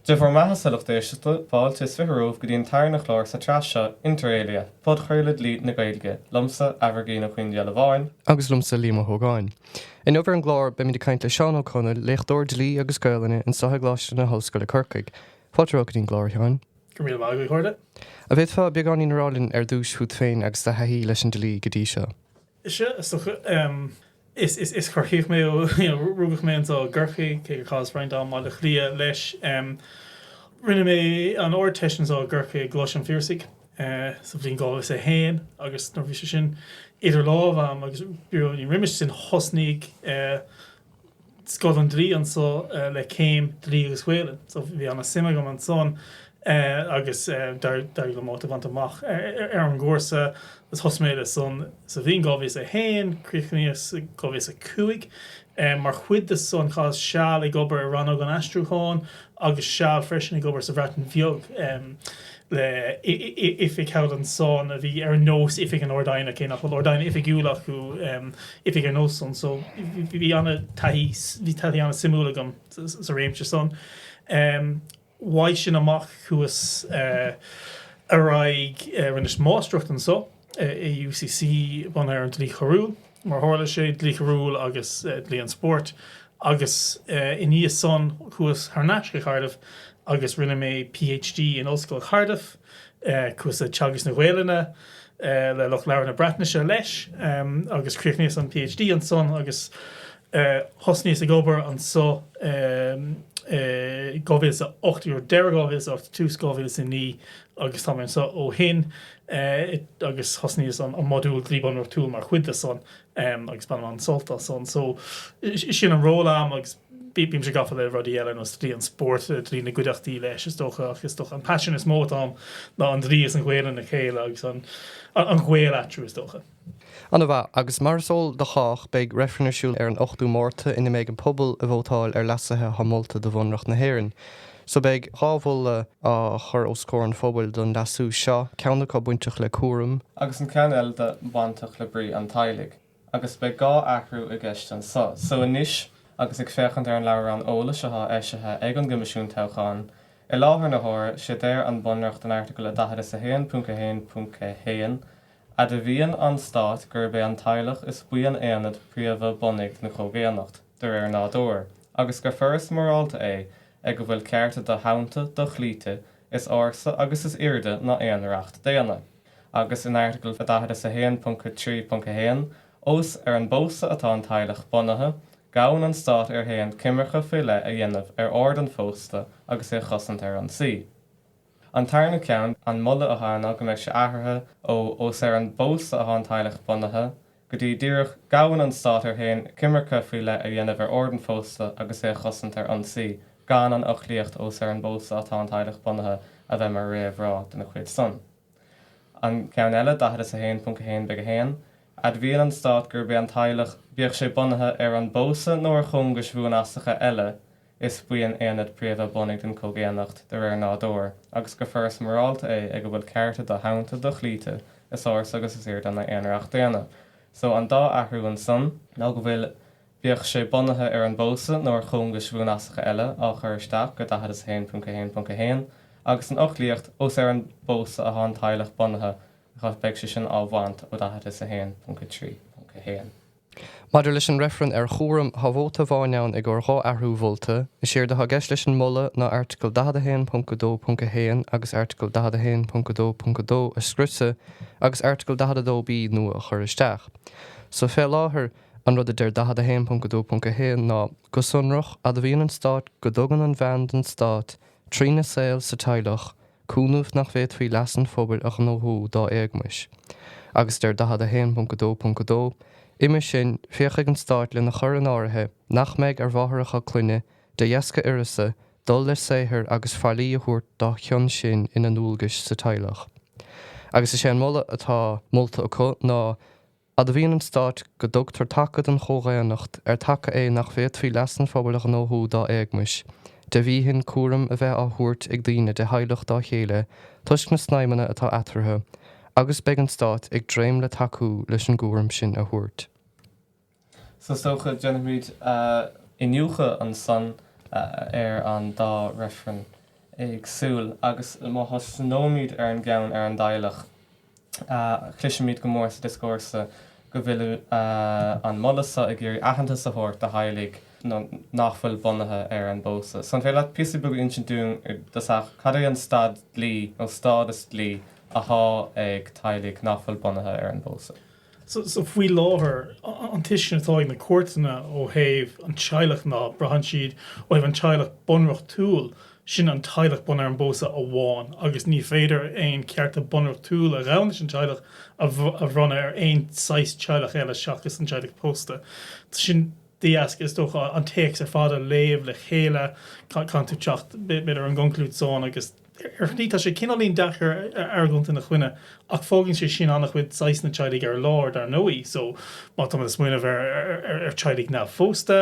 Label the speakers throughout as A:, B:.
A: Dia bhur mbeatha a lucht éisteachta, fáilte is fiche romhaibh go dtí an tarna chlár sa tsraith seo, Inter Alia, podchraoladh dlí na Gaeilge, liomsa, Aimhirgín Ó Caoindhiolabháin, agus liomsa, Liam Ó hÓgáin. Inniubh ar an gclár, beimid ag caint le Seán Ó Conaill, léachtóir dlí agus Gaolainne anseo i gColáiste na hOllscoile Corcaigh. Fáilte romhat go dtí an gclár, a Sheáin. Go raibh míle maith agat, a chairde. An bhféadfá beagáinín a rá linn ar dtúis fút féin agus do thaithí leis an dlí go dtí seo? Sea, is dócha. Is, is, is Corcaíoch mé ó, you know, rugadh mé anseo i gCorcaigh, cé gur chaitheas roinnt am i mBaile Átha Cliath leis. Rinne mé an Ardteist anseo i gCorcaigh i gColáiste an Phiarsaigh sa bhliain 2001 agus nuair a bhí sé sin idir lámha agam agus fiú roimis sin thosnaigh eh, Scoil an Dlí anso le céim Dlí agus Gaolainn. So bhí ana suim agam ansan agus d'éirigh liom áit a bhaint amach ar an gcúrsa agus thosaigh mé le san sa bhliain 2001, críochnaíos i 2005. Mar chuid de san chaitheas seal ag obair i Rannóg an Aistriúcháin agus seal freisin ag obair sa Bhreatain Bheag. le oifig thall ansan a bhí ar nós Oifig an Ard-Aighne, cé nach bhfuil Ard-Aighne oifigiúil acu, Oifig ar nós san. So bhí an-taithí, bhí taithí an-suimiúil agam sa réimse san. Uaidh sin amach chuas ar aghaidh, rinneas Máistreacht ansan. i UCC bunaithe ar an Dlí Choiriúil, mar a tharla sé, Dlí Choiriúil agus Dlí an Spóirt, agus i ndiaidh san chuas thar n-ais go Cardiff agus rinne mé PhD in Ollscoil Chardiff, chuas ag teagasc na Gaelainne le lucht labhartha na Breatnaise leis, agus chríochnaíos an PhD ansan agus. Thosnaíos ag obair anso i 2008, deireadh 2008, tús 2009, agus tá mé anso ó shin, agus thosnaíos an modúl dlí bunreachtúil mar chuid de san, agus bainim an-sult as san. So, sin an ról a'm, agus bímse gafa le rudaí eile, ar nós dlí an spóirt, dlí na gcuideachtaí leis, is dócha, ach is dócha an paisean is mó atá a'm ná an dlí is an Ghaolainn le chéile, agus an gaol eatarthu, is dócha. Ana mhaith. Agus mar is eol do chách, beidh reifreann ar siúl ar an 8ú Márta ina mbeidh an pobal ag vótáil ar leasuithe atá molta do Bhunreacht na hÉireann. So beidh dhá mholadh á chur os comhair an phobail don leasú seo, ceann acu bainteach le cúram, agus an ceann eile de bainteach le brí an teaghlaigh, agus beidh dhá athrú i gceist anso. So anois, agus ag féachaint ar an leabhrán eolais athá eisithe ag an gCoimisiún Toghcháin, i láthair na huaire, sé deir an Bunreacht in Airteagal a 40 is 1.1.1, Admhaíonn an Stát gurb é an teaghlach is buíon aonad príomha bunaidh na comhdhaonnacht, de réir nádúir, agus gur foras morálta é ag a bhfuil cearta do-shannta, do-chloíte, is ársa agus is airde ná aon reacht daonna. Agus in Airteagal 41.3.1, ós ar an bpósadh atá an teaghlach bunaithe, gabhann an Stát air féin coimirce faoi leith a dhéanamh ar ord an phósta agus é a chosaint ar ionsaí. An tarna ceann, an moladh atá ann ná go mbeidh sé athraithe ó ós ar an bpósadh atá an teaghlach bunaithe, go dtí díreach, gabhann an Stát air féin coimirce faoi leith a dhéanamh ar ord an phósta agus é a chosaint ar ionsaí, gan an fhoclaíocht ós ar an bpósadh atá an teaghlach bunaithe a bheith mar réamhrá dena chuid san. An ceann eile, 41.1.1, admhaíonn an Stát gurb é an teaghlach, bíodh sé bunaithe ar an bpósadh nó ar chóngais bhuanfasacha eile, Is buíon aonad príomha bunaidh don chomhdhaonnacht de réir nádúir, agus gur foras morálta é ag a bhfuil cearta do-shannta, do-chloíte, is ársa agus is airde ná aon reacht daonna. So an dá athrú ansan ná go bhfuil, bíodh sé bunaithe ar an bpósadh nó ar chóngais bhuanfasacha eile, á chur isteach go 41.1.1, agus an fhoclaíocht, ós ar an bpósadh athá an teaghlach bunaithe, gh, beidh sé sin á bhaint ó 41.3.1. Maidir leis an reifreann ar chúram, tá vóta amháin ann i gcomhair dhá athrú mholta. Is éard atá i gceist leis an moladh ná airteagal 41.2.1 agus airteagal 41.2.2 a scriosadh agus airteagal 42B nua a chur isteach. So fé láthair, an rud a deir 41.2.1 ná, Go sonrach, admhaíonn an Stát go dtugann an bhean don Stát, trína saol sa teaghlach, cúnamh nach bhféadfaí leas an phobail a ghnóthú dá éagmais, agus deir 41.2.2 Uime sin, féachfaidh an Stát lena chur in áirithe nach mbeidh ar mháithreacha clainne, de dheasca uireasa, dul le saothar agus faillí a thabhairt dá chionn sin ina ndualgais sa teaghlach. Agus is é an moladh atá molta acu ná, Admhaíonn an Stát go dtugtar taca don chomhdhaonnacht, ar taca é nach bhféadfaí leas an phobail a ghnóthú dá éagmais, de bhíthin cúram a bheith á thabhairt ag daoine de theaghlach dá chéile toisc na snaidhmeanna atá eatarthu, agus beidh an Stát ag dréim le tacú leis an gcúram sin a thabhairt. So is dócha, déanfaimid iniúchadh ansan ar an dá reifreann éagsúil, agus má thosnóimid ar an gceann ar an dteaghlach, Cloisimid go mór sa dioscúrsa go bhfuil an moladh seo ag iarraidh aitheantas a thabhairt do theaghlaigh nach bhfuil bunaithe ar an bpósadh. So an féidir leat píosa beag a insint dúinn i dtosach cad é an staid dlí nó stádas dlí athá ag teaghlaigh nach bhfuil bunaithe ar an bpósadh? Sea, faoi láthair, an tuiscint atá ag na cúirteanna ó thaobh an teaghlach ná, braitheann siad ó thaobh an teaghlach bunreachtúil, sin an teaghlach bunaithe ar an bpósadh amháin, agus ní féidir aon chearta bunreachtúil a ghabhann leis an teaghlach a bhronnadh ar aon saghas teaghlaigh eile seachas an teaghlach pósta. Sin de dheasca, is dócha, an téacs ar fad a léamh le chéile, caithfidh tú teacht, b'fhéidir, ar an gconclúid san agus, Ar shlí, tá sé cineáilín deacair argóint ina choinne, ach fágann sé sin an-chuid saghasanna teaghlaigh ar lár, dar ndóigh. So, má táimid ag smaoineamh ar teaghlaigh neamhphósta,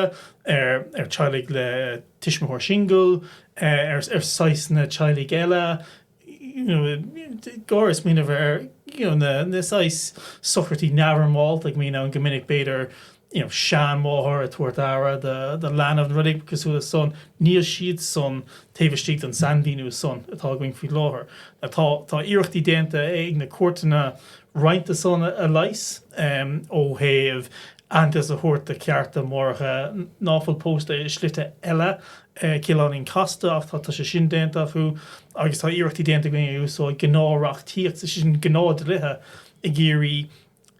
A: ar teaghlaigh le tuismitheoir singil, ar saghasanna teaghlaigh eile, you know, ag smaoineamh ar, you know, na saghas socruithe neamhfhoirmeálta a mbíonn ann go minic, b'fhéidir, you know, seanmháthair ag tabhairt aire do, do leanbh nó rud éigin cosúil leis san, níl siadsan taobh istigh den sainmhíniú san atá againn faoi láthair. Now tá, tá iarrachtaí déanta ag na cúirteanna roinnt de san a leigheas, em, ó thaobh aitheantas a thabhairt do chearta máithreacha ná fuil pósta i slite eile, eh, cineáilín casta ach tá, tá sé sin déanta acu agus tá iarrachtaí déanta againn ag úsáid gnáthreachtaíocht, is é sin gnáthdhlíthe ag iarraidh,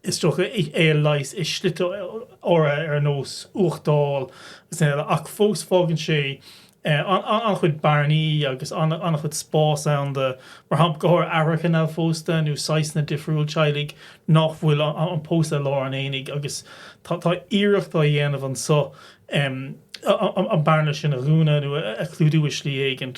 A: Is dócha é a leigheas i slite áirithe ar nós uchtáil agus eile ach fós fágann sé an-chuid bearnaí agus an-chuid spás ann do, mar shampla, go háirithe aithreacha neamhphósta nó saghasanna difriúil teaghlaigh nach bhfuil an pósadh i lár an aonaigh agus tá iarracht á dhéanamh anso an bearna sin a dhúnadh nó a chlúdú i slí éigin.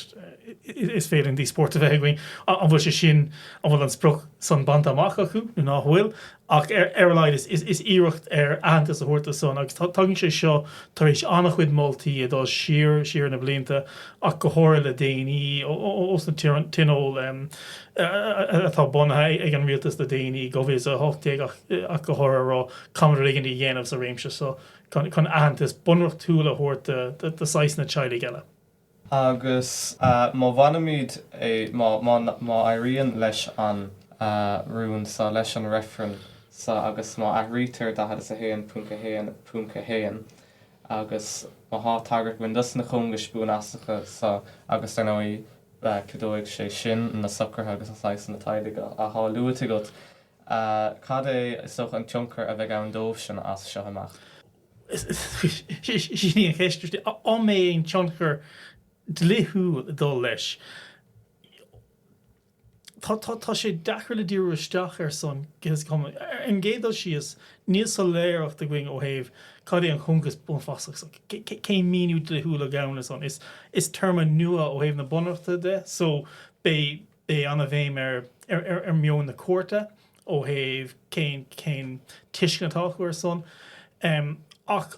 A: Is féidir an díospóireacht a bheith againn an bhfuil sé sin, an bhfuil an sprioc san bainte amach acu nó ná fuil, ach ar a laghad is iarracht ar aitheantas a thabhairt do san, agus tagann sé seo tar éis an-chuid moltaí ag dul siar siar na blianta, ach go háirithe le déanaí, ós na tionóil atá bunaithe ag an rialtas le déanaí, dhá mhíle is a hocht déag ach go háirithe, a rá, caithfimid rud éigin a dhéanamh sa réimse san. chun aitheantas bunreachtúil a thabhairt do shaghasanna teaghlaigh eile. Agus má bhainimid é, má éiríonn leis an rún sa, leis an reifreann sa, agus má athraítear 41.1.1, agus má thá tagairt ann dos na cóngais buanfasacha so, agus dar ndóigh, ceadóidh sé sin na socruithe agus na saghasanna teaghlaigh a thá luaite agat, a. Cad é is dócha an tionchar a bheidh ann dóibhsean as seo amach? Sin í an cheist, is dóigh. An mbeidh aon tionchar dlíthiúil ag dul leis? Tá sé deacair le díriú isteach air san go dtí seo mar. Ar an gcéad dul síos, níl soiléireacht againn ó thaobh cad é an cóngas buanfasach so, cén míniú dlíthiúil a ghabhann leis san. Is téarma nua ó thaobh na bunreachta de so beidh. Beidh an-bhéim ar mheon na cúirte ó thaobh cén, cén tuiscint atá acu ar san. Ach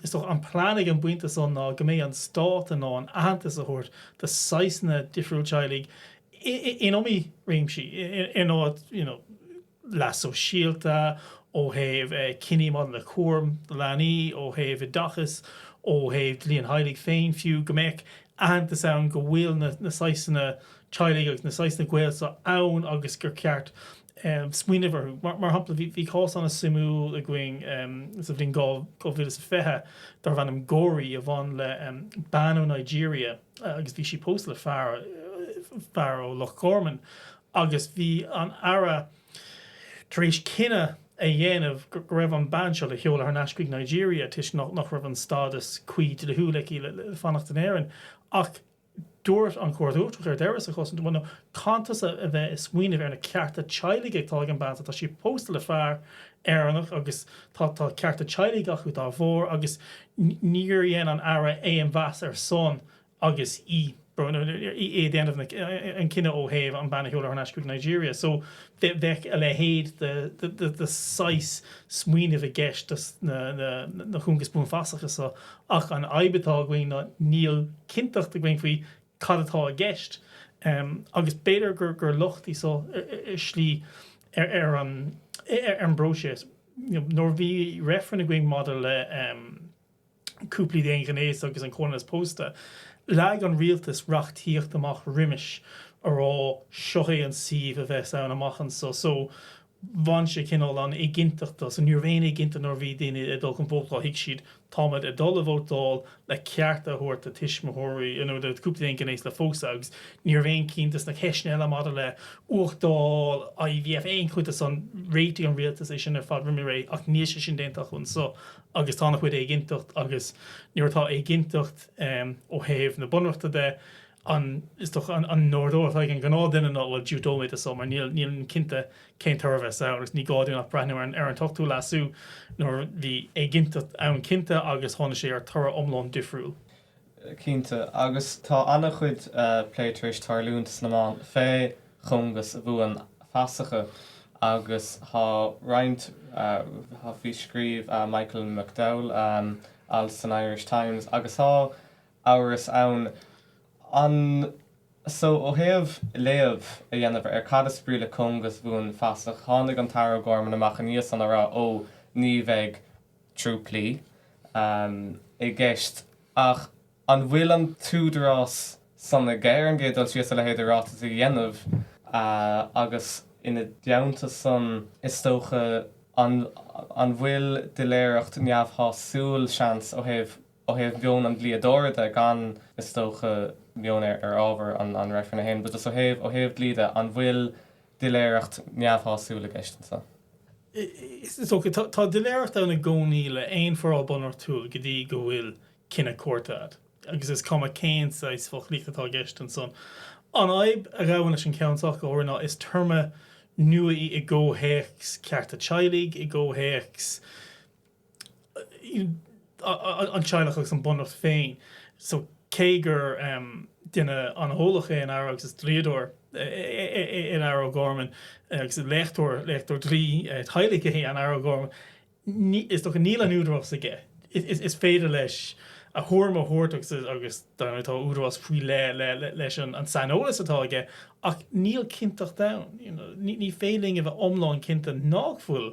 A: is dócha an plean ag an bpointe san ná go mbeidh an stát in ann aitheantas a thabhairt de saghasanna difriúil teaghlaigh in iomaí réimsí, in áit, you know, leas sóisialta, ó thaobh cinní maidir le cúram leanaí, ó thaobh oideachais, ó thaobh dlí an theaghlaigh féin fiú, go mbeadh aitheantas ann go bhfuil na saghsanna teaghlaigh agus na saghsanna gaol seo ann agus gur ceart smaoineamh orthu. Mar shampla, bhí cás an-suimiúil againn sa bhliain 2020 darbh ainm Gorry a bhain le bean ó Nigeria, agus bhí sí pósta le fear, fear ó Loch Garman, agus bhí an tAire tar éis cinneadh a dhéanamh go raibh an bean seo le sheoladh thar n-ais chuig Nigeria toisc nach, nach raibh an stádas cuí dlíthiúil aici le, le fanacht in Éirinn. Ach dúirt an Chúirt Uachtarach ar deireadh sa chás san, bhuel no, caithfidh tusa a bheith ag smaoineamh ar na cearta teaghlaigh atá ag an bean so, tá sí pósta le fear Éireannach agus tá cearta teaghlaigh acu dá bharr agus níor dhein an tAire aon mheas ar san agus í ag déanamh an cinneadh ó thaobh an bean a sheoladh thar n-ais chuig Nigeria. So bheadh a leithéid de saghas smaoinimh i gceist do na cóngais bhuanfasacha seo ach an fhadhb atá againn ná níl cinnteacht againn faoi cad atá i gceist agus b'fhéidir gur locht í seo ar shlí ar an bpróiseas. Nuair a bhí reifreann againn maidir le cúplaí d'aon ghnéas agus an comhionannas pósta, leag an rialtas reachtaíocht amach roimis a rá seo é an suíomh a bheas ann amach anso. bhain sé cineál an éiginnteacht as, ní raibh aon éiginnteacht nuair a bhí daoine ag dul chun vótála, thuig siad táimid ag dul a vótáil le cearta a thabhairt do tuismitheoirí nó do chúpla d'aon ghnéas le pósadh agus ní raibh aon cheann de sna ceisteanna eile maidir le huchtáil IVF, aon chuid de san, réitigh an rialtas é sin ar fad roimh ré ach níl sé sin déanta acu anseo agus tá ana chuid éiginnteacht agus nuair atá éiginnteacht ó thaobh na bunreachta de, an, is dócha, an t-ordú atá ag an ngnáthdhuine ná, bhuel, diúltóidh mé do san, mar nílim cinnte cén toradh a bheas ann, agus ní gá dúinn ach breathnú ar an, ar an t-ochtú leasú nuair a bhí éiginnteacht ann cinnte agus tháinig sé ar thoradh iomlán difriúil. Cinnte, agus tá an-chuid plé tar éis tarlúint sna meáin fé chóngas bhuanfasacha agus thá roinnt, thá, bhí, scríobh Michael McDowell alt san Irish Times agus thá amhras ann anso ó thaobh léamh a dhéanamh ar cad is brí le cóngas bhuanfasach. Tháinig an tAire O'Gorman amach ina dhiaidh san ag rá ó ní bheidh trúipillí i gceist. Ach an bhfuil an t-údarás san aige ar an gcéad dul síos a leithéid de ráiteas a dhéanamh agus ina dteannta san is dócha an bhfuil doiléireacht neamhshásúil seans ó thaobh Ó thaobh mheon an dlíodóra de, gan, is dócha, beann ar ábhar an reifrinn féin, but just ó thaobh, ó thaobh dlí de, an bhfuil doiléireacht neamhshásúil i gceist ansan? Is dócha. Tá doiléireacht ann i gcónaí le haon foráil bunreachtúil go dtí go bhfuil cinneadh cúirte agat, agus is cuma cén saghas foclaíochta atá i gceist ansan. An fhadhb a ghabhann leis an gceann so ach go háirithe ná is téarma nua í i gcomhthéacs cearta teaghlaigh, i gcomhthéacs, an teaghlach agus an bunreacht féin so cé gur duine an-eolach é an Aire agus is dlíodóir é an Aire O'Gorman agus léachtóir, léachtóir dlí teaghlaigh é an Aire O'Gorman ní, is dócha, níl an údarás aige is féidir leis a thuairim a thabhairt agus agus dar ndóigh tá údarás faoi leith leis an saineolas atá aige ach níl cinnteacht ann, you know, ní féidir linn a bheith iomlán cinnte nach bhfuil.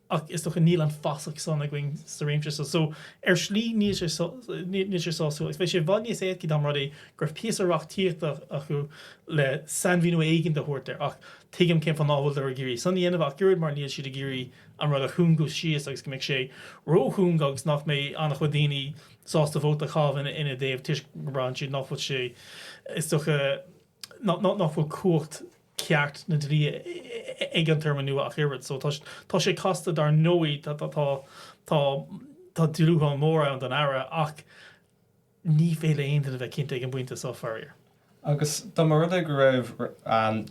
A: ach is dócha níl an fasach san againn sa réimse seo, so ar shlí níl sé níl sé sásúil, agus bheadh sé i bhfad níos éascaí dá mba rud é go raibh píosa reachtaíochta acu le sainmhíniú éigin a thabhairt air, ach tuigim cén fáth ná bhfuiltear ag iarraidh san a dhéanamh ach oiread mar níl siad ag iarraidh an rud a chúngú síos agus go mbeidh sé ró-chúng agus nach mbeidh an-chuid daoine sásta vóta a chaitheamh ina dtaobh toisc go mbraitheann siad nach bhfuil sé is dócha nach bhfuil cumhacht ceart na dlí ag an téarma nua ach oiread. So, tá sé casta. Dar ndóigh, tá dúshlán mór ann don Aire ach ní féidir le haon duine bheith cinnte ag an bpointe so, faraor. Agus dá mba rud é go raibh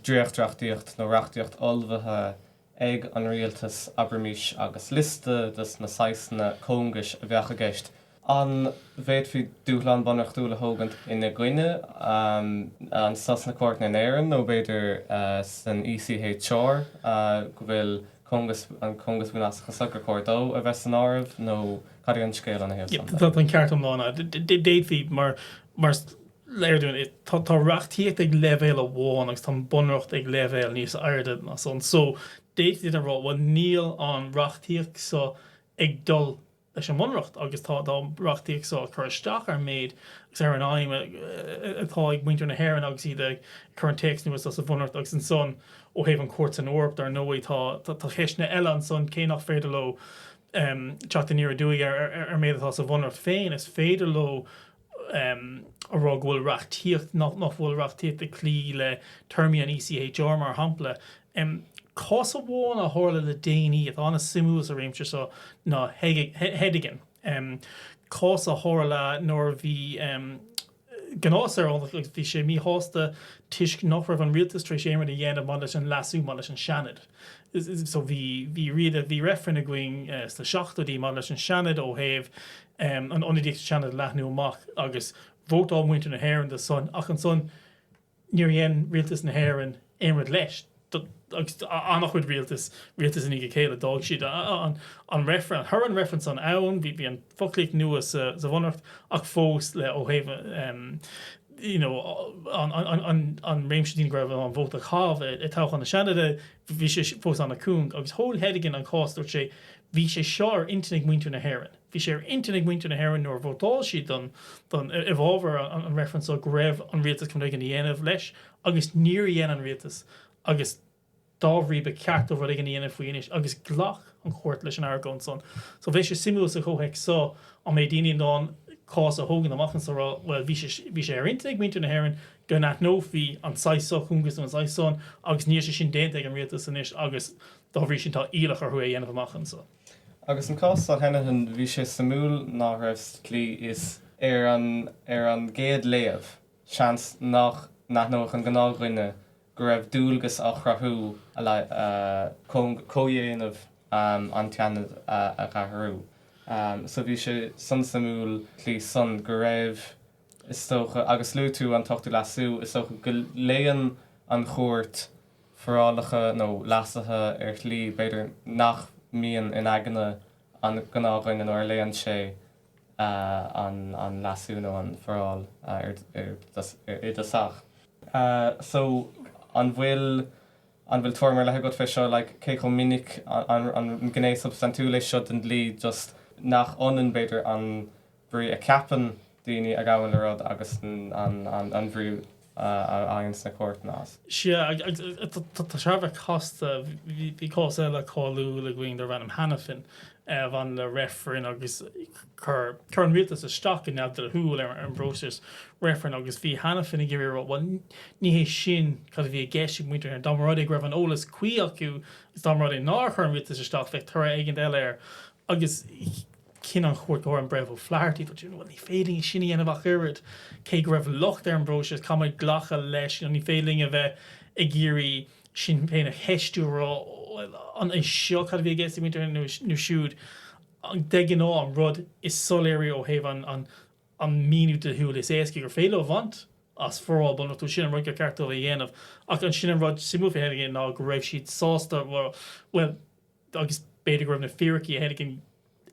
A: dréachtreachtaíocht nó reachtaíocht ullmhaithe ag an rialtas, abraimis, agus liosta dos na saghsanna cóngais a bheadh i gceist, an bhféadfaí dúshlán bunreachtúil a thógaint ina gcoinne, anso sna cúirteanna in Éirinn nó b'fhéidir san ECHR, go bhfuil cóngas, an cóngas buanfasach is gur chóir dó a bheith san áireamh nó cad é an scéal ina thaobh san? Tá an ceart iomlán agat. D'fhéadfaí, mar. léir dúinn é. Tá reachtaíocht ag leibhéal amháin agus tá an bunreacht ag leibhéal níos airde ná san. So, d'fhéadfaí duine a rá, bhuel, níl an reachtaíocht so ag dul leis an mbunreacht agus tá an reachtaíocht so ag cur isteach ar an méid agus ar an aidhm atá ag muintir na hÉireann agus iad ag cur an téacs nua seo sa bhunreacht. Agus ansan, ó thaobh an Chúirt san Eoraip, dar ndóigh, tá ceisteanna eile ansan, cé nach féidir leo teacht aniar aduaidh ar an méid atá sa bhunreacht féin, is féidir leo, rá go bhfuil reachtaíocht, nach bhfuil reachtaíocht ag cloí le téarmaí an ECHR, mar shampla. Cás amháin a tharla le déanaí atá ana suimiúil sa réimse seo ná Hedigan. Cás a tharla nuair a bhí gnáthshaoránach, bhí sé míshásta toisc nach raibh an rialtas tar éis aon rud a dhéanamh maidir leis an leasú maidir leis an Seanad. Bhí riada, bhí reifreann againn sna seachtóidí maidir leis an Seanad ó thaobh an ionadaíocht sa Seanad a leathnú amach agus vótáil muintir na hÉireann dó san ach ansan níor dhein rialtas na hÉireann aon rud leis agus an-chuid rialtas, rialtas i ndiaidh a chéile, d'fhág siad an, toradh an reifrinn san ann, bhí an foclaíocht nua sa Bhunreacht ach fós le ó thaobh an. you know an réimse daoine go raibh in ann vóta a chaitheamh i toghchán na Seanaide, bhí sé fós an-chúng. Agus thóg Hedigan an cás, dúirt sé, Bhí sé seo ar intinn ag muintir na hÉireann. Bhí sé ar intinn ag muintir na hÉireann nuair a vótáil siad don don, i bhfabhar an reifrinn seo go raibh an rialtas chun rud éigin a dhéanamh leis agus níor dhein an rialtas agus Dá bhrí, ba cheart dóibh rud éigin a dhéanamh faoi anois, agus ghlac an Chúirt leis an argóint san. So, bheadh sé suimiúil sa chomhthéacs so, an mbeidh daoine in ann cás a thógaint amach anso a rá, bhuel, bhí sé, bhí sé ar intinn ag muintir na hÉireann go n-aithneofaí an saghas so cóngais nó an saghas san, agus níl sé sin déanta ag an Rialtas anois, agus dá bhrí sin, tá iallach orthu é a dhéanamh amach anso. Agus an cás so, Heneghan, bhí sé suimiúil nach raibh sa tslí is, ar an, ar an gcéad léamh, seans nach n-aithneodh an gnáthdhuine go raibh dualgas á chruthú chun comhdhéanamh an tSeanaid a athrú. So bhí sé san suimiúil sa tslí san go raibh, is dócha, agus luaigh tú an tOchtú Leasú, is dócha go léann an Chúirt forálacha nó leasuithe ar shlí b'fhéidir nach mbíonn in aigne an ghnáthdhuine nuair a léann sé an leasú nó an foráil ar i dtosach. So, an bhfuil, an bhfuil tuairim ar leith agat fé seo, like, cé chomh minic, an, an gné substaintiúil é seo den dlí, just nach ionann, b'fhéidir, an brí a cheapann daoine a ghabhann le rud agus an, an, an bhrí a fhaigheann na cúirteanna as. Sea, agus tá sé thar a bheith casta. Bhí cás eile cáiliúil againn darbh ainm Hanafin a bhain le reifreann agus chuir an rialtas isteach go neamhdhlithiúil ar an bpróiseas reifrinn agus bhí Hanafin ag iarraidh a rá, bhuel, ní hé sin cad a bhí i gceist ag muintir na hÉireann, dá mba rud é go raibh an eolas cuí acu agus dá mba rud é nár chuir an rialtas isteach, bheadh toradh éigin eile air. Agus. Chinn an Chúirt Uair an Breitheamh O'Flaherty go dtí bhuel ní féidir linn sin a dhéanamh ach oiread, cé go raibh locht ar an bpróiseas, caithfimid glacadh leis nó ní féidir linn a bheith ag iarraidh sinn féin a cheistiú a rá bhuel an é seo cad a bhí i gceist ag muintir seo nó siúd. De ghnáth an rud is soiléire ó thaobh an míniú dlíthiúil is éasca gur féidir leo a bhaint as foráil bunreachtúil, sin an rud gur cheart dóibh a dhéanamh ach ansin an rud suimiúil fé thaobh de ná go raibh siad sásta bhuel agus b'fhéidir go raibh na fíricí a theilgean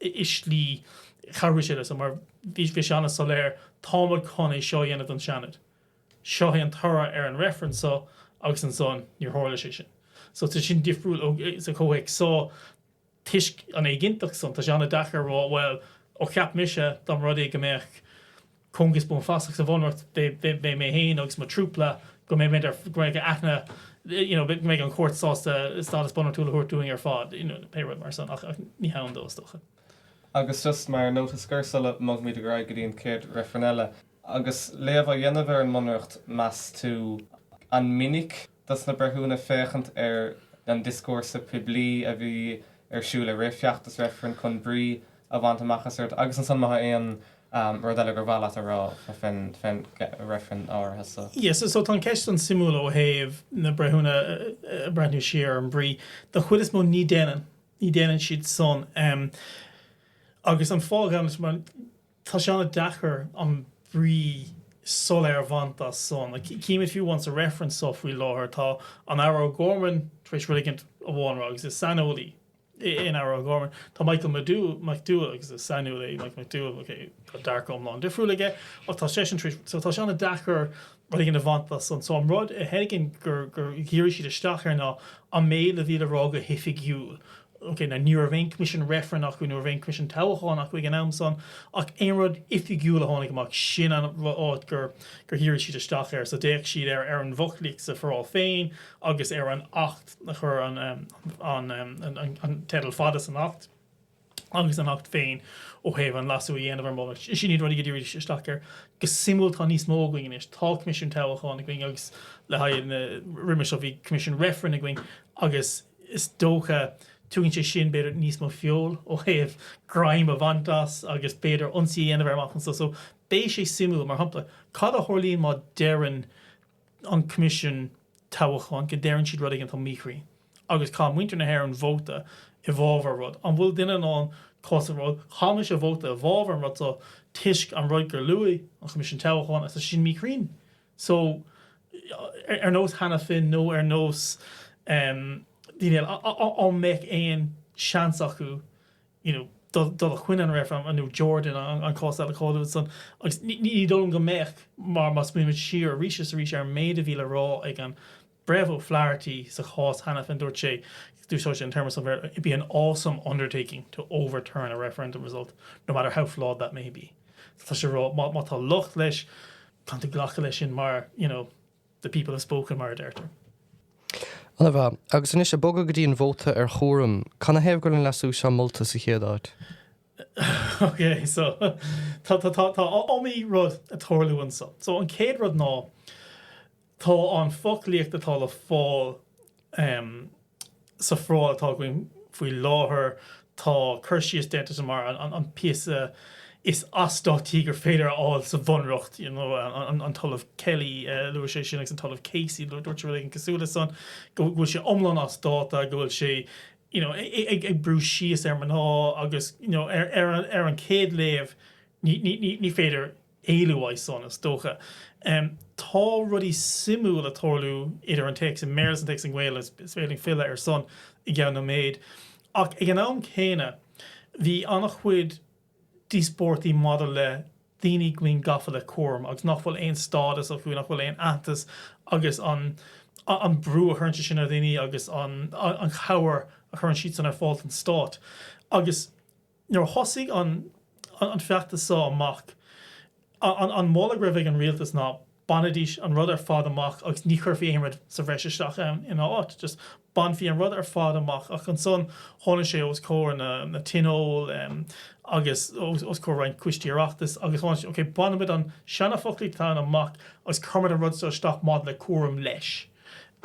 A: i slí a chabhraigh sé leo, mar bhí sé an-soiléir, táimid chun é seo a dhéanamh don tSeanad. Seo é an toradh ar an reifreann seo agus ansan níor tharla sé sin. So tá sin difriúil ó, sa chomhthéacs seo, toisc an éiginnteacht san, tá sé an-deacair a rá, bhuel, ó cheap mise, dá mba rud é go mbeadh, cóngas buanfasach sa bhunreacht beidh mé féin agus mo trúpla go mbeidh muid ar go mbeidh aithne you know go mbeidh an chúirt sásta stádas bunreachtúil a thabhairt dúinn ar fad you know pé rud mar san ach ach ní hann dó is dócha. Agus just mar nóta scoir sula mbogaimid ar aghaidh go dtí an chéad reifreann eile, agus léamh á dhéanamh ar an mbunreacht meas tú an minic dos na breithiúna féachaint ar an dioscúrsa poiblí a bhí ar siúl i rith feachtas reifrinn chun brí a bhaint amach as rud agus ansan má tá aon rud eile gur mhaith leat a rá fén reifreann áirithe so. Yeah, so tá an cheist san suimiúil ó thaobh na breithiúna ag breathnú siar ar an bhrí. Don chuid is mó ní déanann, ní déanann siad san. Agus an fáth a ghabhann leis mar Tá sé an-deacair an brí soiléir a bhaint as san. Címid fiú amháin sa reifreann so faoi láthair, tá an Aire O'Gorman tar éis rud éigin amháin a rá, agus is saineolaí é an Aire O'Gorman. Tá Michael McDowell, McDowell, agus is saineolaí é Michael McDowell, OK, tá dearcadh iomlán difriúil aige, ach tá seisean tar éis, so tá sé an-deacair. rud éigin a bhaint as. An rud a thuigim gur dhírigh siad isteach air ná an méid a bhí le rá go hoifigiúil. Ní raibh aon choimisiún reifrinn acu, ní raibh aon choimisiún toghcháin acu ag an am san, ach aon rud oifigiúil a tháinig amach, sin an áit gur dhírigh siad isteach air. So d'fhéach siad ar an bhfoclaíocht sa foráil féin agus ar an acht a chuir an, an teideal fada san acht, agus an Acht féin ó thaobh an leasú a dhéanamh ar mholadh. Sin iad rudaí gur díríodh isteach air. Go suimiúil tá níos mó againn anois. Tá Coimisiún Toghcháin againn agus le haghaidh na, roimhe seo bhí Coimisiún Reifrinn againn agus is dócha tugann sé sin b'fhéidir níos mó feoil ó thaobh greim a bhaint as agus b'fhéidir ionsaí a dhéanamh air amach anseo. So beidh sé suimiúil, mar shampla, cad a tharlaíonn má deireann, an Coimisiún Toghcháin go ndeireann siad rud éigin atá míchruinn agus chaith muintir na hÉireann vóta i bhfábhar rud. An bhfuil duine in ann cás a rá? Chaith mise vóta i bhfábhar an rud seo toisc an rud gur luaigh an Coimisiún Toghcháin agus tá sin míchruinn. So, ar nós Hanafin nó ar nós daoine eile, an mbeadh aon seans acu you know dul dul a choinne an reifrinn nó Jordan an an cás eile cáiliúil san agus ní ní dóigh liom go mbeadh mar má smaoinímid siar arís is arís ar an méid a bhí le rá ag an Breitheamh O'Flaherty sa chás Hanafin dúirt sé d'úsáid sé an téarma san Bhéarla it'd be an awesome undertaking to overturn a referendum result no matter how flawed that may be so tá sé ag rá má má tá locht leis caitheann tú glacadh leis sin mar you know The people have spoken, mar a deirtear. Ana mhaith. Agus anois, ag bogadh go dtí an vóta ar chúram, canathaobh go raibh an leasú seo molta sa chéad áit? Ok, so, tá, tá, tá, tá iomaí rud ag tarlú anseo. So, an chéad rud ná, tá an foclaíocht atá le fáil, ehm, Sa phoráil atá againn faoi láthair tá cur síos déanta de mar an píosa is as dáta gur féidir a fháil sa bhunreacht, you know. An tOllamh Kelly, luaigh sé sin, agus an tOllamh Casey, dúirt sé rud éigin cosúil leis sin, go bhfuil sé iomlán as dáta, go bhfuil sé, you know, ag brú síos ar mná agus, you know, ar an chéad léamh ní féidir, éalú as san, is dócha. Tá rudaí suimiúil ag tarlú idir an téacs i mBéarla is an téacs i nGaeilge, is féidir linn filleadh ar san i gceann nóiméid. Ach ag an am céanna, bhí an-chuid díospóirtaí maidir le daoine go bhfuil gafa le cúram agus nach bhfuil aon stádas acu, nach bhfuil aon aitheantas agus an an brú a chuireann sé sin ar dhaoine agus an chabhair a chuireann siad san ar fáil don Stát. Agus. Nuair a thosaigh an feachtas so amach, an moladh go raibh ag an rialtas ná bainfidís an rud ar fad amach agus ní chuirfí aon rud sa bhreis isteach ann ina áit, just bainfí an rud ar fad amach. Ach ansan tháinig sé os comhair na tionól agus os comhair roinnt coistí Oireachtais agus tháinig sé, ok, bainfimid an seanafoclaíocht atá ann amach agus cuirfimid an rud so isteach maidir le cúram leis.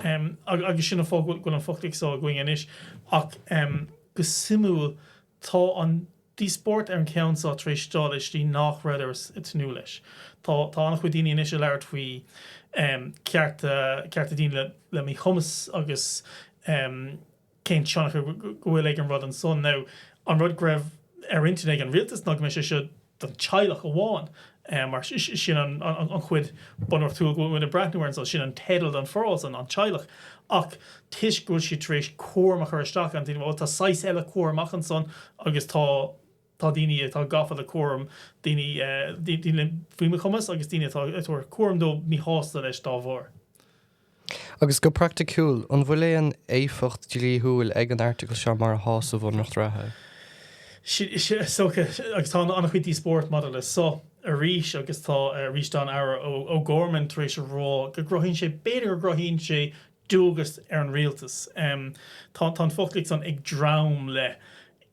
A: Agus sin an fáth go bhfuil an foclaíocht so againn anois. Ach. Go suimiúil, tá an díospóireacht ar an gceann seo tar éis dul i slí nach rabhadar ag tnúth leis. Tá an-chuid daoine anois ag labhairt faoi chearta daoine le míchumas agus cén tionchar go bhfuil ag an rud ansan. Now, an rud go raibh ar intinn ag an rialtas ná go mbeadh sé seo don teaghlach amháin. Mar sin an chuid bunreachtúil go bhfuil muid ag breathnú air, sin an teideal don phoráil san, an teaghlach. Ach toisc go bhfuil siad tar éis cúram a chur isteach ar an duine, bhuel tá saghas eile cúram ach ansan agus tá tá daoine atá gafa le cúram daoine, daoine faoi mhíchumas agus daoine atá ag tabhairt cúram dóibh míshásta leis dá bharr. Agus go praiticiúil, an bhfuil aon éifeacht dhlíthiúil ag an Airteagal seo mar atá sa Bhunreacht reatha? Agus tá an-chuid díospóireachta maidir leis seo arís, agus tá arís an tAire O'Gorman, tar éis a rá go gcruthaíonn sé, b'fhéidir go gcruthaíonn sé dualgas ar an rialtas. Tá an focal acu ansan ag dréim le.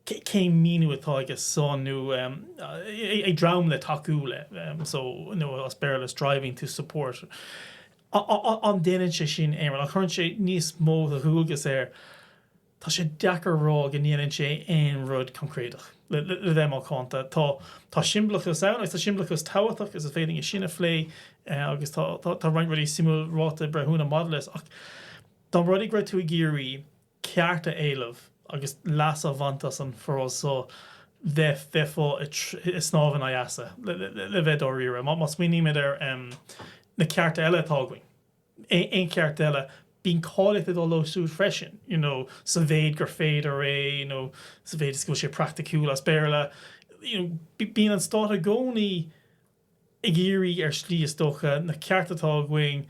A: Cén míniú atá aige so ag dréim le tacú leis nó as Béarla striving to support. An ndéanann sé sin aon rud? An gcuireann sé níos mó de dhualgas air? Tá sé deacair a rá go ndéanann sé aon rud coincréideach, le bheith macánta. Tá siombalachas ann, agus tá siombalachas tábhachtach, agus is féidir é sin a phlé, agus tá roinnt rudaí suimiúil ráite ag breithiúna maidir leis. Ach dá mba rud é go raibh tú ag iarraidh ceart a éileamh agus leas a bhaint as an bhforáil seo bheifeá ag snámh in aghaidh easa le bheith dáiríre. Má smaoinímid ar na cearta eile atá againn, aon cheart eile, bíonn cáilíocht ag gabháil leo siúd freisin, you know, sa mhéid gur féidir é nó sa mhéid is go bhfuil sé praiticiúil as Béarla. You know, bíonn an stát i gcónaí ag iarraidh, ar shlí is dócha, na cearta atá againn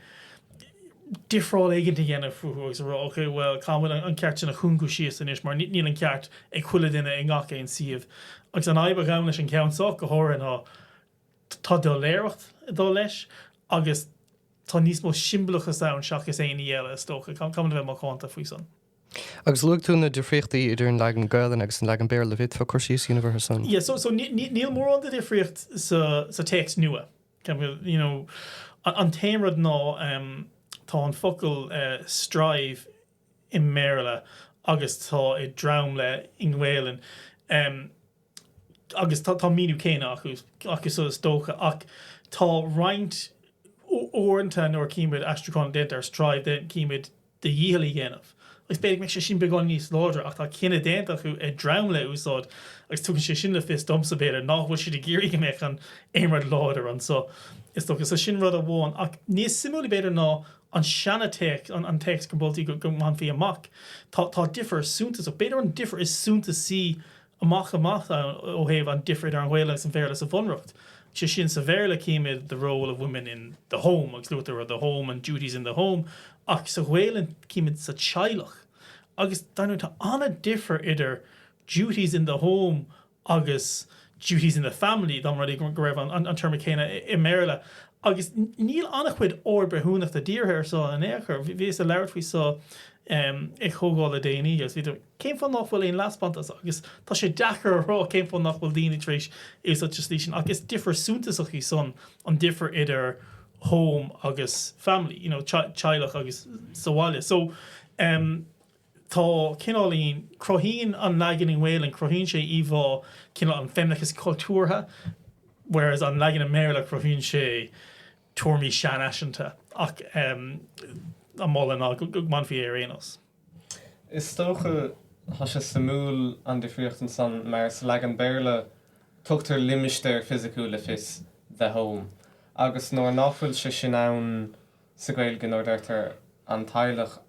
A: difreáil éigin a dhéanamh fúthu agus a rá, OK, bhuel, caithfimid an ceart sin a chúngú síos anois mar níl an ceart ag chuile dhuine i ngach aon suíomh. Agus an fhadhb a ghabhann leis an gceann seo go háirithe ná tá doiléireacht ag dul leis agus tá níos mó siombalachas ann seachas aon ní eile, is dócha. Caithfimid a bheith macánta faoi san. Agus luaigh tú na difríochtaí idir an leagan Gaelainne agus an leagan Béarla. Bhféadfá cur síos a dhéanamh orthu san? Yeah, so, so níl mórán de dhifríocht sa, sa téacs nua. You know, An t-aon rud ná ehm tá an focal eh strive i mBéarla agus tá ag dréim le i nGaelainn ehm agus tá an míniú céanna acu, acu so is dócha ach tá roinnt u- uaireanta nuair a chímid aistriúchán déanta ar strive déan- címid do dhícheall a dhéanamh, agus b'fhéidir go mbeadh sé sin beagán níos láidre, ach tá cinneadh déanta acu ag dréim le a úsáid agus tugann sé sin le fios domsa, b'fhéidir, ná fuil siad ag iarraidh go mbeadh aon rud láidir anso, is dócha. So sin rud amháin. Ach níos suimiúla, b'fhéidir, ná an seana téacs, an téacs go moltar go mbainfí amach, tá difear suntasach, b'fhéidir an difear is suntasaí amach is amach ann ó thaobh an difir idir an Ghaeilge agus an Béarla sa Bhunreacht. Sé sin, sa Bhéarla címid the role of women in the home agus luaitear the home and duties in the home ach sa Ghaelainn címid sa teaghlach agus dar ndóigh tá an-difir idir duties in the home agus duties in the family dá mba rud é go raibh an téarma céanna i mBéarla agus níl an-chuid aird bhreithiúnach dírithe ar seo in aon chor. Bhíos ag labhairt faoi seo ag comhdháil le déanaí agus bhíodar ag. Cén fáth nach bhfuil aon leaspántas? Agus tá sé deacair a rá cén fáth nach bhfuil daoine tar éis é úsáid sa slí sin, ach is difear suntasach í san an difear idir home agus family, you know, teaghlach agus sa bhaile. So, em, tá cineáilín, cruthaíonn an leagan i nGaolainn, cruthaíonn sé íomhá cineál an feimineachais cultúrtha, whereas an leagan i mBéarla, cruthaíonn sé, téarmaí seanfhaiseanta ach a mholann ná go mbainfí é ar aon nós. Is dócha, tá sé suimiúil an difríocht ansan mar sa leagan Béarla tugtar limistéar fisiciúil le fios, the home, agus nuair ná fuil sé sin ann sa Ghaeilge nuair a deirtear an teaghlach,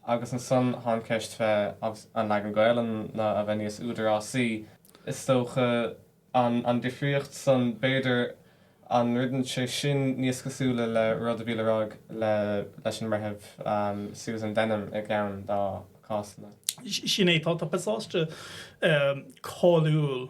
A: agus ansan tá an cheist faoi an leagan Gaelainne a bheith níos údarásaí, is dócha. An an difríocht san, b'fhéidir, an ndeineann sé sin níos cosúla le rud a bhí le rá ag le leis an mBreitheamh Susan Denham i gceann dá cásanna? Sin é, tá, tá pasáiste cáiliúil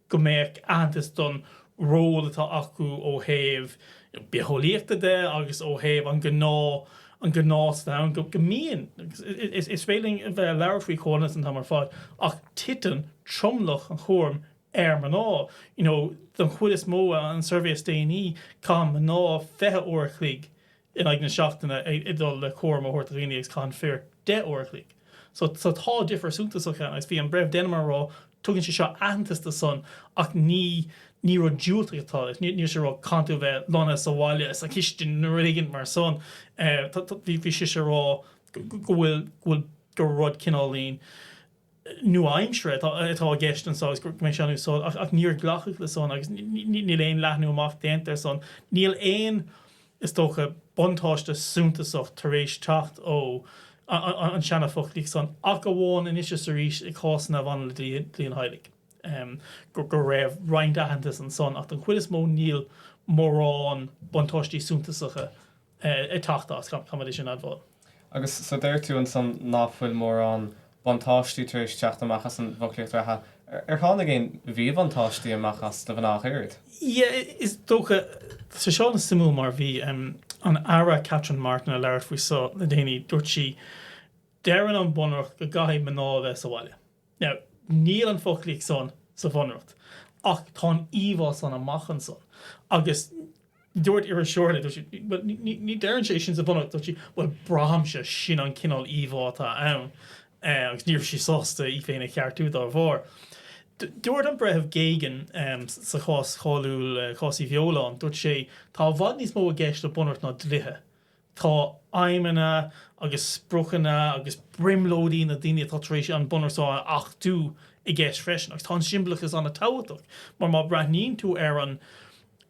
A: go mbeadh aitheantas don ról atá acu ó thaobh bitheolaíochta de agus ó thaobh an gnás san ann go mbíonn, agus is féidir linn a bheith ag labhairt faoi chomhionannas an t-am ar fad, ach titeann tromlach an chúraim ar mná. You know, don chuid is mó, an suirbhé is déanaí, caitheann mná fiche uair a chloig in aghaidh na seachtaine ag dul le cúram a thabhairt do dhaoine agus caitheann fir 10 uair a chloig. So so tá difear suntasach ann agus bhí an Breitheamh Denham ag rá tugann sé seo aitheantas do san ach ní ní rud diúltach atá leis. Níl sé ag rá go gcaitheann tú a bheith lonnaithe sa bhaile sa chistin nó rud éigin mar san eh tá tá bhí bhí sise rá go go bhfuil go bhfuil gur rud cineáilín eh nua-aimseartha atá i gceist anso agus go mbeidh sé in úsáid, ach níor glacadh le san agus níl aon leathnú amach déanta ar san. Níl aon, is dócha, buntáiste suntasach tar éis teacht ón tseana-fhoclaíocht san, ach amháin anois is arís i cásanna a bhaineann le dlí an teaghlaigh, go raibh roinnt aitheantas ansan, ach don chuid is mó níl mórán buntáistí suntasacha. ag teacht as, caithfimid é sin a admháil. Agus so deir tú ansan ná fuil mórán buntáistí tar éis teacht amach as an bhfoclaíocht reatha. Ar tháinig aon mhíbhuntáistí amach as do mhná ach oiread? Yeah, is dócha. Tá sé seo ana-shuimiúil mar bhí an tAire Catherine Martin ag labhairt faoi so le déanaí, dúirt sí, deireann an bunreacht go gcaithfidh mná a bheith sa bhaile. Now, níl an foclaíocht san sa Bhunreacht, ach tá an íomhá san amach ansan. Agus dúirt iriseoir léi, dúirt sí, bhuel, ní deireann sé sin sa Bhunreacht, dúirt sí, bhuel, braithimse sin an cineál íomhá atá ann, agus ní raibh sí sásta í féin a cheartú dá bharr. Dúirt an Breitheamh Geoghegan sa chás cháiliúil Cás Uí Bheoláin, dúirt sé, tá i bhfad níos mó i gceist le bunreacht ná dlíthe. Tá aidhmeanna agus spriocanna agus brionglóidí na daoine atá tar éis an Bunreacht a achtú i gceist freisin. Agus tá an siombalachas an-tábhachtach, mar má breathnaíonn tú ar an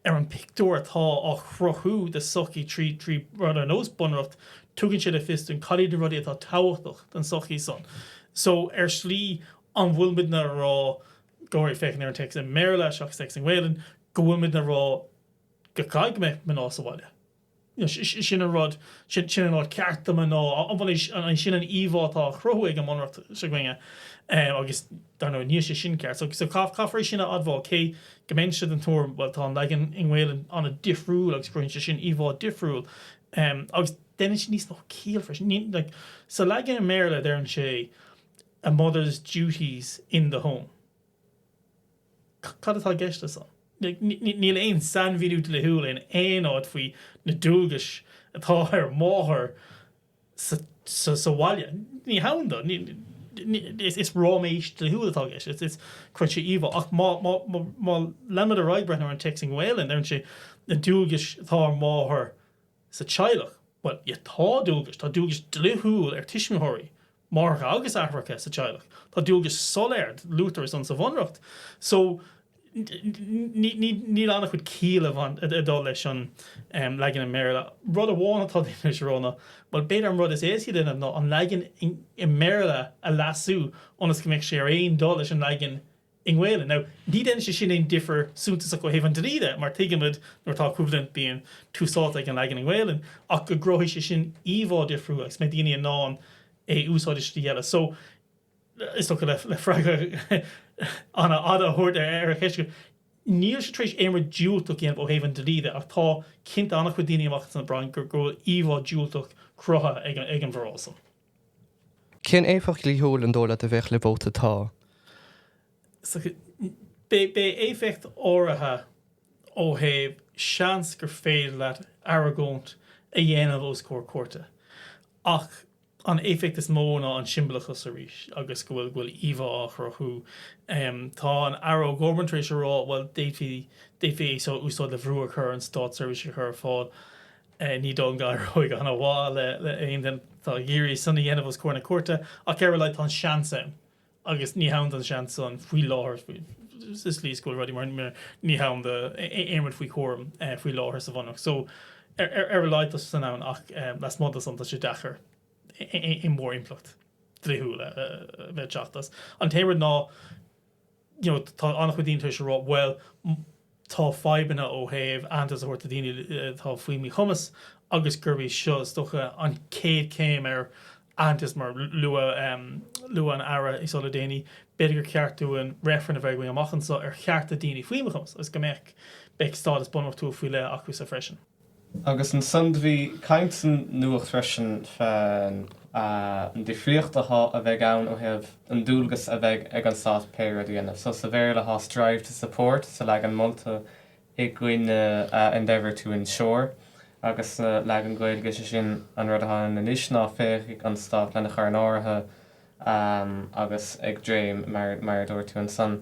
A: ar an pictiúr atá á chruthú de sochaí trí trí rud ar nós bunreacht, tugann sé le fios dúinn cad iad na rudaí atá tábhachtach don sochaí san. So ar slí, an bhfuil muid ag rá, go háirithe féachaint ar an téacs i mBéarla seachas téacs i nGaelainn, go bhfuil muid ag rá go go mbeidh mná sa bhaile? Sin an rud. Sin an rud ceart do mhná. Sin an íomhá atá á chruthú ag an mBunreacht s'againne. Agus, dar ndóigh, níl sé sin ceart. So, caithfear é sin a admháil, cé go mbeinnse den tuairim, bhuel, tá an leagan i nGaelainn an-difriúil agus cruthaíonn sé sin íomhá difriúil. Agus déanann sé níos mó ciall freisin. Like, sa leagan i mBéarla, deireann sé a mother's duties in the home. Cad atá i gceist leis san? Níl aon sainmhíniú dlíthiúil in aon áit faoi na dualgais atá ar mháthair sa bhaile. Ní hann do. Is ráiméis dlíthiúil atá i gceist. Cruthaíonn sé íomhá. Ach má leanaimid ar aghaidh breathnú ar an téacs i nGaelainn, deireann sé, na dualgais atá ar mháthair. sa teaghlach. Bhuel, yeah, tá dualgais, tá dualgais dlíthiúil ar tuismitheoirí, máithreacha agus aithreacha sa teaghlach. Tá dualgais soiléir, luaitear é san sa bhunreacht. So, níl an-chuid ciall ag dul leis an leagan i mBéarla. Rud amháin atá déanta le Róna, bhuel, b'fhéidir an rud is éasca a dhéanamh ná an leagan i mBéarla a leasú ionas go mbeadh sé ar aon dul leis an leagan i nGaolainn. Now, ní dhéanann sé sin aon difear suntasach ó thaobh an dlí de, mar tuigimid nuair atá coimhlint bíonn tús áite ag an leagan i nGaolainn, ach go gcruthóidh sé sin íomhá difriúil agus go mbeidh daoine in ann é a úsáid i slí eile. So, is dócha le freagra an-fhada a thabhairt ar an cheist seo, níl siad tar éis aon rud diúltach a dhéanamh ó thaobh an dlí de, ach tá cinnte an-chuid daoine amach ansan a braitheann go bhfuil íomhá diúltach cruthaithe ag an bhforáil san. Cén éifeacht dhlíthiúil ar dóigh leat a bheadh le vóta 'Tá'? Beidh éifeacht áirithe ó thaobh seans gur féidir leat argóint a dhéanamh os comhair cúirte, ach an éifeacht is mó ná an siombalachas arís agus go bhfuil bhfuil íomhá á chruthú. Tá an Aire O'Gorman tar éis a rá, bhuel, d'fhéadfaí d'fhéadfaí é seo a úsáid le brú a chur ar an stát seirbhísí a chur ar fáil. Ní dóigh go n-éireoidh chomh maith le haon duine atá ag iarraidh san a dhéanamh os comhair na cúirte, ach ar a laghad tá an seans ann, agus ní hann don seans san faoi láthair sa slí is go bhfuil rudaí mar ní hann d'aon rud faoi chúram faoi láthair sa Bhunreacht. So, ar a laghad tá sé san ann, ach lasmuigh de san tá sé deacair aon mhór impleacht dlíthiúil a bheith ag teacht as. An t-aon rud ná, you know tá an-chuid daoine tar éis a rá bhuel tá fadhbanna ó thaobh aitheantas a thabhairt do daoine atá faoi mhíchumas agus gurb é seo is dócha an chéad chéim ar aitheantas mar luadh luadh an Aire í seo le déanaí b'fhéidir gur cheart dúinn reifreann a bheith againn amach anseo ar chearta daoine faoi mhíchumas agus go mbeadh beidh stádas bunreachtúil faoi leith acusan freisin. Agus ansan do bhí caint san nuacht freisin fén difríocht athá a bheith ann ó thaobh an dualgas a bheidh ag an Stát pé rud a dhéanamh. So sa Bhéarla athá strive to support sa leagan molta i gcoinne endeavour to ensure. Agus ansan sa leagan Gaeilge sé sin an rud athá ann anois ná féachfaidh an Stát lena chur in áirithe agus ag dréim mar a dúirt tú ansan,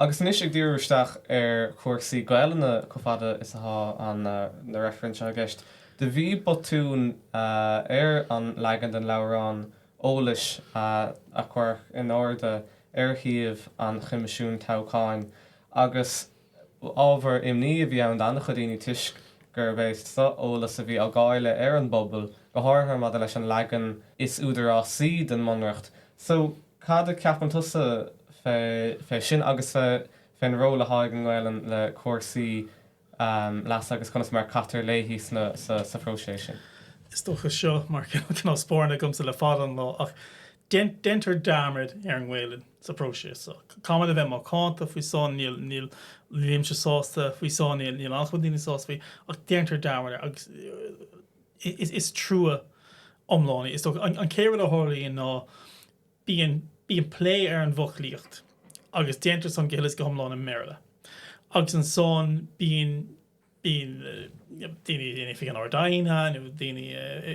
A: Agus anois ag díriú isteach ar chúrsaí Gaelainne, chomh fada is atá na reifrinn seo i gceist, do bhí botún ar an leagan den leabhrán eolais a cuireadh in airde ar shuíomh an Choimisiúin Toghcháin agus, Ábhar imní a bhí ann d'an-chuid daoine toisc gurb é seo eolas a bhí á dháileadh ar an bpobal, go háirithe maidir leis an leagan is údarásaí den mBunreacht. So, cad a cheapann tusa fé sin agus fén ról athá ag an nGaolainn le cúrsaí leasa agus conas mar a caitear léi sa phróiseas sin? Is dócha seo mar cnámh spairne agamsa le fada an lá ach Déantar dearmad ar an nGaelainn sa phróiseas seo. Caithfimid a bheith macánta faoi seo, níl, níl, nílimse sásta faoi seo, níl, níl an-chuid daoine sásta faoi, ach déantar dearmad agus is, is trua iomlán é. Is dócha, an, an chéad rud a tharlaíonn ná bíonn, bíonn plé ar an bhfoclaíocht agus déantar san go huile is go hiomlán i mBéarla agus ansan bíonn, bíonn daoine in oifig an Ard-Aighne nó daoine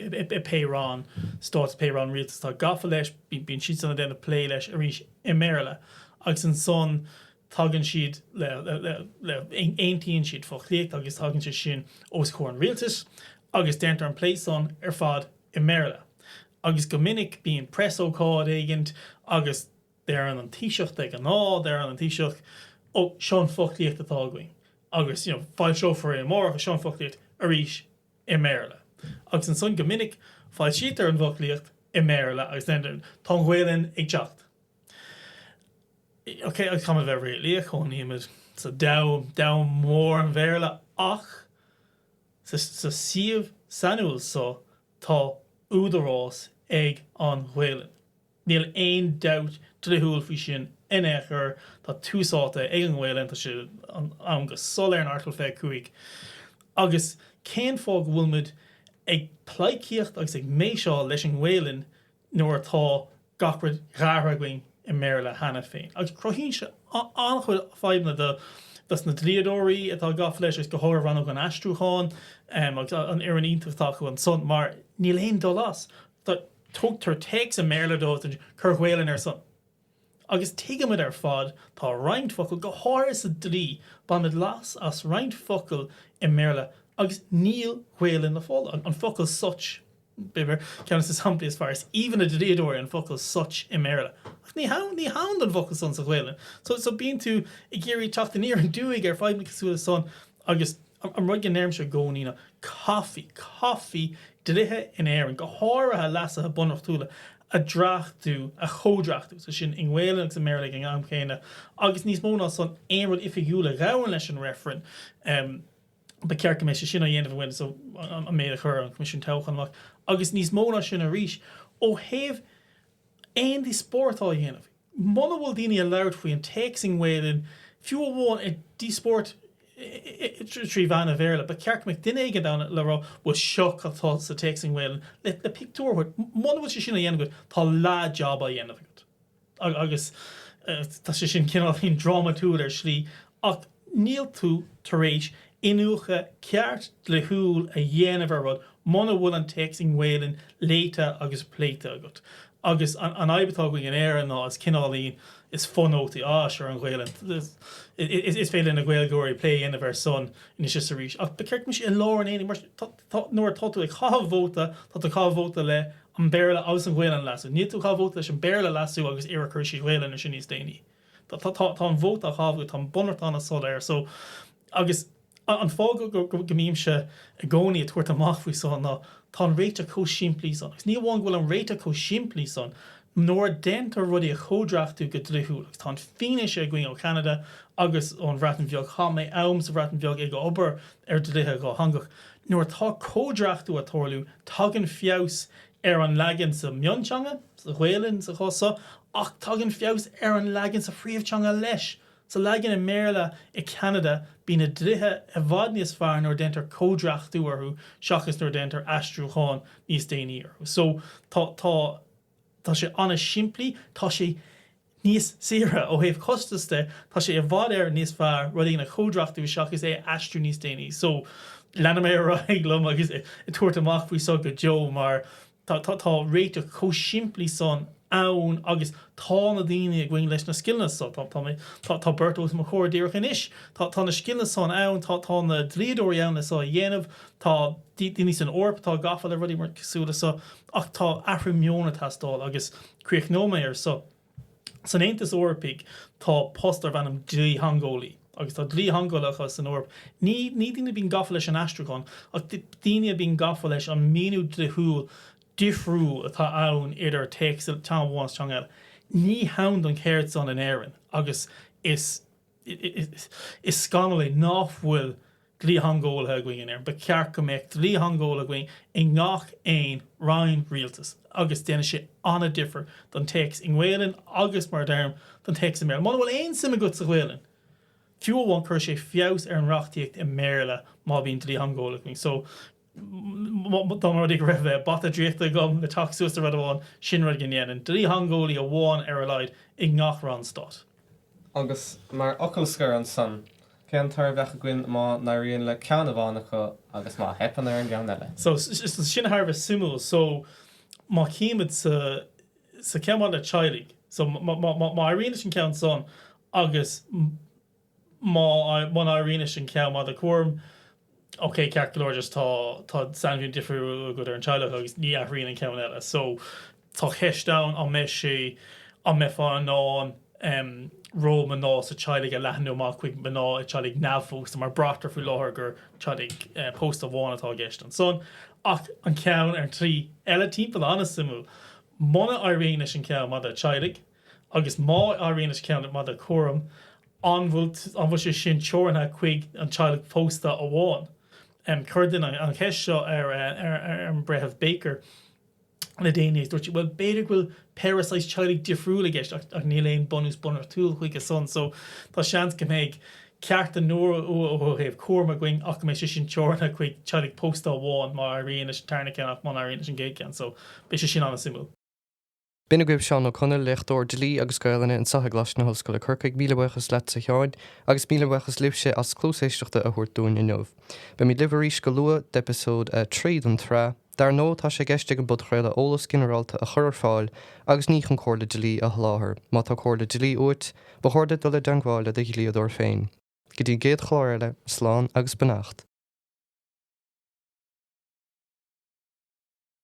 A: i pé roinn stáit pé roinn rialtais atá gafa leis, bíonn siadsan ag déanamh plé leis arís i mBéarla agus ansan tagann siad le, aontaíonn siad foclaíocht agus tagann sé sin os comhair an rialtais agus déantar an plé san ar fad i mBéarla. Agus go minic bíonn preasócáid éigint agus. deireann an Taoiseach de ghnáth, deireann an Taoiseach oh seo an foclaíocht atá againn agus you know foilseofar é amárach agus seo an foclaíocht arís i mBéarla agus ansan go minic foilsítear an foclaíocht i mBéarla agus then tá an Ghaolainn ag teacht ok agus caithfimid a bheith réalaíoch cónaímid sa domhan, domhan mór an Bhéarla ach sa, sa suíomh sainiúil so tá údarás ag an Ghaolainn. Níl aon dabht dlíthiúil faoi sin in aon chor, tá tús áite ag an nGaelainn tá sé ann go soiléir in Airteagal 25. Agus cén fáth go bhfuil muid ag pleidhcíocht agus ag méiseáil leis an nGaelainn nuair atá gach rud déanta againn i mBéarla cheana féin? Agus cruthaíonn sé an-chuid fadhbanna dos na dlíodóirí atá gafa leis, agus go háirithe Rannóg an Aistriúcháin agus an fhoireann iontach atá acu ansan, mar níl aon dul as. Tá, tugtar téacs i mBéarla dóibh san Cuir Gaolainn air san, agus tuigimid ar fad tá roinnt focal, go háirithe sa dlí, bainimid leas as roinnt focal i mBéarla agus níl Gaolainn le fáil do, an focal such, b'fhéidir, ceann des na samplaí is fearr, is aoibhinn le dlíodóirí an focal such i mBéarla, ach ní hann, ní hann don bhfocal san sa Ghaolainn, so, so bíonn tú ag iarraidh teacht aniar aduaidh ar fadhbanna cosúil le san agus. An rud go ndeirimse i gcónaí ná, caithfí, caithfí dlíthe in Éirinn, go háirithe leasuithe bunreachtúla, a dhreachtú, a chomhdhreachtú, is é sin, i nGaelainn agus i mBéarla ag an am chéanna, agus níos mó ná san, aon rud oifigiúil a ghabhann leis an reifreann, ba cheart go mbeadh sé sin á dhéanamh i nGaeilge, so, an méid a chuir an Coimisiún Toghcháin amach, agus níos mó ná sin arís, ó thaobh aon díospóireacht á dhéanamh. Muna bhfuil daoine ag labhairt faoi an téacs i nGaoluinn, fiú amháin ag díospóireacht trí mheán an Bhéarla, ba cheart go mbeadh duine éigin ann le rá, Bhuel seo cad tá sa téacs i nGaoluinn, le pictiúr a thabhairt. Muna bhfuil sé sin á dhéanamh agat, tá leath job á dhéanamh agat. Agus tá sé sin cineál drámatúil ar slí, ach. Níl tú tar éis iniúchadh ceart dlíthiúil a dhéanamh ar rud muna bhfuil an téacs i nGaelainn léite agus pléite agat. Agus an fhadhb atá againn in Éirinn ná is cineáilín is fonótaí iad san ar an Ghaelainn. Is féidir le na Gaeilgeoirí plé a dhéanamh air san anois is arís, ach ba ceart go mbeadh sé i lár an aonaigh mar nuair atá tú ag chaitheamh vóta, tá tú ag chaitheamh vóta le an Béarla agus an Ghaelainn a leasú. Níl tú ag chaitheamh vóta leis an Béarla a leasú agus a rá cuirfí Gaelainn air sin níos déanaí. tá, tá, tá, tá an vóta á thábhú, tá an bunreacht ann, go soiléir so agus an fáth go, go, go, go mbímse i gcónaí ag tabhairt amach faoi so ná tá an réiteach chomh simplí san agus ní hamháin go bhfuil an réiteach chomh simplí san nuair a déantar rudaí a chomhdhréachtú go dlíthiúil agus tá an fianaise againn ó Cheanada agus ón Bhreatain Bheag, chaith mé am sa Bhreatain Bheag ag obair ar dlíthe dhátheangach, nuair atá comhdhréachtú ag tarlú tagann feabhas ar an leagan sa mhionteanga, sa Ghaelainn sa chás seo, ach tagann feabhas ar an leagan sa phríomhteanga leis. Sa leagan i mBéarla i gCeanada, bíonn na dlíthe i bhfad níos fearr nuair a déantar comhdhréachtú orthu seachas nuair a déantar aistriúchán níos déanaí orthu. So, tá, tá, tá sé an-simplí, tá sé. níos saoire ó thaobh costas de, tá sé i bhfad Éireann níos fearr rud éigin a chomhdhréachtú seachas é a aistriú níos déanaí. So, leanfaidh mé ar aghaidh liom agus ag tabhairt amach faoi seo go deo mar tá réiteach chomh simplí san ann agus tá na daoine againn leis na scileanna so. Tá mé, tá beirt os mo chomhair díreach anois, tá na scileanna san ann, tá na dlíodóirí ann le so a dhéanamh, tá daoine san Eoraip atá gafa le rudaí cosúil le so ach tá athrú meoin ag teastáil agus. Críochnóidh mé air so. San Aontas Eorpaigh tá post darb ainm dlítheangeolaí. Agus tá dlítheangeolaithe san Eoraip, ní daoine a bíonn gafa leis an aistriúchán, ach daoine a bíonn gafa leis an míniú dlíthiúil difriúil atá ann idir téacs teanga amháin is teanga eile. Ní hann don cheird san in Éirinn agus is Is scannal é nach bhfuil dlítheangeolaithe againn in Éirinn. Ba cheart go mbeadh dlítheangeolaí againn i ngach aon roinn rialtais agus déanfaidh sé an-difear don téacs i nGaelainn agus, mar a deirim, don téacs i mBéarla. Muna bhfuil aon suim agat sa Ghaelainn fiú amháin cuirfidh sé feabhas ar an reachtaíocht i mBéarla má bhíonn dlítheangeolaí againn. Dá mba rud é go raibh bata draíochta agam le teacht suas le rud amháin, sin rud go ndéanfainn, dlítheangeolaí amháin ar a laghad i ngach roinn stáit. Agus mar fhocal scoir ansan, cén toradh a bheadh againn má n-éiríonn le ceann amháin acu agus má theipeann ar an gceann eile? So, sin thar a bheith suimiúil. So, má chímid sa, sa, ceann maidir le teaghlaigh. So, má, má, má, má éiríonn leis an gceann san agus. muna n-éiríonn leis an cheann maidir le cúram, ok, ceart go leor, just tá sainmhíniú difriúil agat ar an teaghlach agus ní athraíonn an ceann eile. So, tá ceist ann, an mbeidh sé, an mbeifeá in ann ról mná sa teaghlach a leathnú amach chuig mná i dteaghlaigh neamhphósta, mar braitear faoi láthair gur teaghlaigh pósta amháin atá i gceist ansan, ach an ceann ar an tslí eile timpeall, an-suimiúil, muna éiríonn leis an cheann maidir le teaghlaigh. agus má éiríonn leis an gceann maidir le cúram, an bhfuil sé sin teoranta chuig an teaghlach pósta amháin? Chuir duine an cheist seo ar an Breitheamh Baker le déanaí agus dúirt sí, bhuel, b'fhéidir go bhfuil péire saghas teaghlaigh difriúil i gceist ach níl aon bunús bunreachtúil chuige san so tá seans go mbeidh cearta nua ó thaobh cúraim againn ach go mbeidh sé sin teoranta chuig teaghlaigh pósta amháin má éiríonn leis an tarna ceann ach má éiríonn leis an gcéad ceann so beidh sé sin an-suimiúil. B'in agaibh Seán Ó Conaill, Léachtóir Dlí agus Gaelainne anseo i gColáiste na hOllscoile Corcaigh. Míle buíochas leatsa Sheáin, agus míle buíochas libhse as cluas éisteachta a thabhairt dúinn inniu. Beimid libh arís go luath d'eipeasóid a trí den tsraith. Dar ndóigh, tá sé i gceist ag an bpodchraoladh eolas ginearálta a chur ar fáil agus ní chun comhairle dlí a sholáthar. Má tá comhairle dlí uait, ba chóir duit dul i dteangmháil le do dhlíodóir féin. Go dtí an gcéad chlár eile, slán agus beannacht.